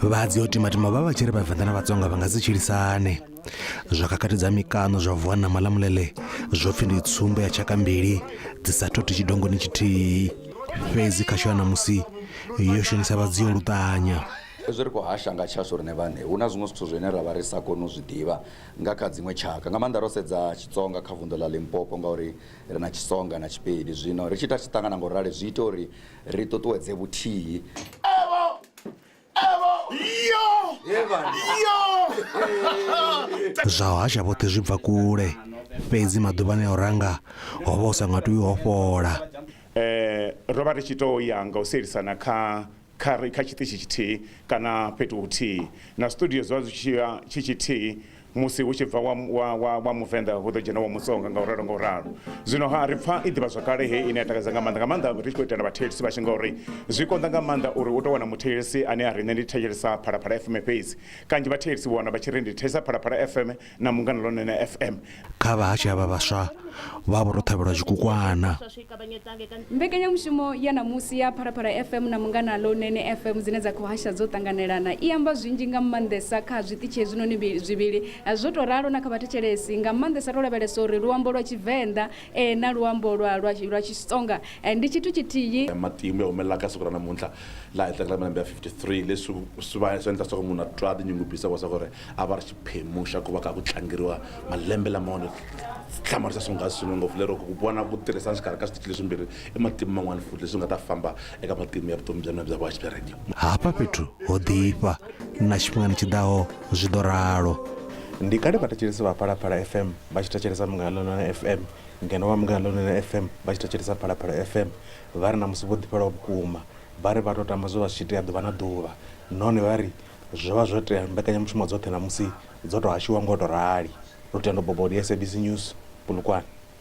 vhadzi o timatima vha vha tshi ri vhavenḓa na vhatsonga vha nga si tshilisane zwa kakatidza mikano zwa vuwa na malamulele zwo pfhi ndi tsumbo ya tshaka mbili dzi sa thothi tshidongoni tshithihi fhedzi kha sho ya ṋamusi yo shonisa vhadzi yo luṱanya hezwi ri khou hasha nga tshashu riṋe vhane hu na zwiṅwe zwithu zwine ra vha ri sa koni u zwi ḓivha nga kha dziṅwe tshaka nga maanḓa ro sedza tshitsonga kha vunḓu ḽa limpopo ngauri Ri na Tshisonga na Tshipedi zwino ri tshi ita tshiṱangana nga u rali zwi ita uri ri ṱuṱuwedze vhuthihi. Zwa hasha vhoṱhe zwi bva kule, fhedzi maḓuvhani a u ranga ho vha hu sa nga tou i hofhola. Ro vha ri tshi tou ya nga u sielisana kha Kha ri kha tshiṱitshi tshithihi kana fhethu huthihi na studio zwi vha zwi tshi ya tshi tshithihi musi hu tshi bva wa, wa, wa, wa Muvenḓa hu ḓo dzhena wa Mutsonga nga u ralo nga u ralo. Zwino ha ri pfa i ḓivhazwakale heyi ine ya takadza nga maanḓa nga maanḓa ri tshi khou itela vhathetshelesi vhashu ngauri zwi konḓa nga maanḓa uri u tou wana muthetshelesi ane a ri nṋe ndi thetshelesa Phalaphala FM fhedzi. Kanzhi vhathetshelesi vha wana vha tshi ri ndi thetshelesa Phalaphala FM na mungana lone na fm kha vhahashe havha vhaswa vha vho ro ṱhavhelwa zwikukwana mbekanyamushumo ya ṋamusi ya phalaphala fm na mungana lonene fm dzine dza khou hasha dzo ṱanganelana i amba zwinzhi nga maanḓesa kha zwiṱitshi hezwinoni mbi- zwivhili zwo tou ralo na kha vhathetshelesi nga maanḓesa ro lavhelesa uri luambo lwa tshivenḓa eh, na luambo lwa lwa lwa xitsonga eh, ndi tshithu tshithihi matimu ya humelela ka siku ra namuntlha laha hi tlangela malembe ya 53 leswi swi va swi endla swa ku munhu a twa a tinyungubyisa wa swa ku ri A va ri xiphemu xa ku va ka ku tlangeriwa malembe lama onhi xitlhamari xa swonghasi swinene ngopfu lero ku vona ku tirhisana xikarhi ka switichi leswimbirhi i matimu man'wana futhi leswi nga ta famba eka matimu ya vutomi bya mina bya vuhaxi bya rhadiyo. Hafha fhethu ho ḓifha na tshifhingani tshi ḓaho zwi ḓo ralo. Ndi kale vhathetshelesi vha Phalaphala FM vha tshi thetshelesa Munghana Lonene FM ngeno vha Munghana Lonene FM vha tshi thetshelesa Phalaphala FM vha ri ṋamusi vho ḓifhelwa vhukuma. Vha ri vha tou tama zwo vha zwi tshi itea ḓuvha na ḓuvha nahone vha ri, Zwo vha zwo tea mbekanyamushumo dzoṱhe ṋamusi dzo tou hashiwa nga u tou rali. Lutendo Bobodi, SABC News, Polokwane.